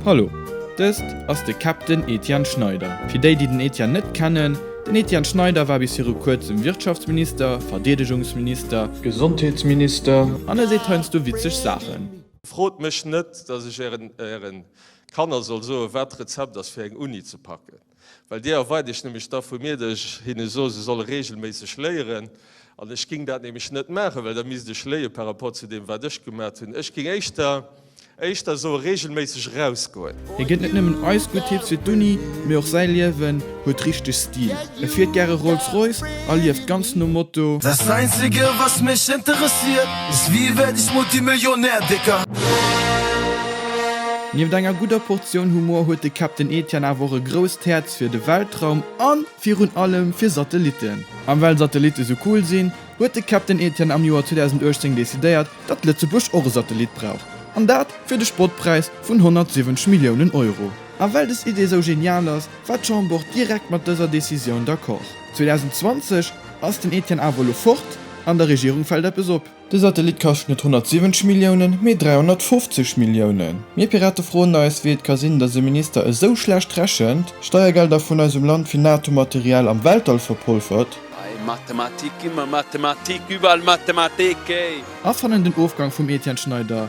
Hallo, dëst ass de Captain Etienne Schneider. Fir déi, déi den Etienne net kennen, Den Etienne Schneider war bis viru kuerzem Wirtschaftsminister, Verdeedegungsminister, Gesondheetsminister, An e seet heiansdo witzeg Saachen. Frot mech net, dass ech ären Kanner soll soen, wat d'Rezept ass fir eng Uni ze packen. Well déi erweit ech nämlech da vu mir, datt ech hinne soe se solle reegelméisseg léieren. An ech géing dat nämlech net maachen, well da misst ech léie par rapport zu deem wat ech gemat hunn. Ech géing éischter éischter soe reegelméisseg erausgoen. Hie gëtt net nëmmen eis gutt Tipps fir d'Uni, mee och säi Liewen huet richteg Stil. E fiert gäre Rolls Royce a lieft ganz nom Motto. Das einzige was mich interessiert ist wie werd ich multimillionär dicker. Nieft enger gudder Portioun Humor huet de Captain Etienne awer och e grousst Häerz fir de Weltraum a virun allem fir Satellitten. An well Satellitte sou cool sinn, huet de Captain Etienne am Joer 2018 decidéiert, datt Lëtzebuerg och e Satellit brauch. An dat fir de Spottpräis vun 170 Milliounen Euro. A well des Idee sou genial ass, war d'Chamber direkt mat dëser Decisioun d'accord. 2020 ass den Etienne awer elo fort, an der Regierung fält eppes op. De Satellit kascht net 170 Milliounen, mee 350 Milliounen. Mir Pirate froen eis, wéi et ka sinn, datt e Minister esou schlecht rechent, Steiergelder vun eisem Land fir NATO-Material am Weltall verpolfert, Hei Mathematik, ëmmer Mathematik, iwwerall Mathematik, hey! A fannen den Ofgang vum Etienne Schneider.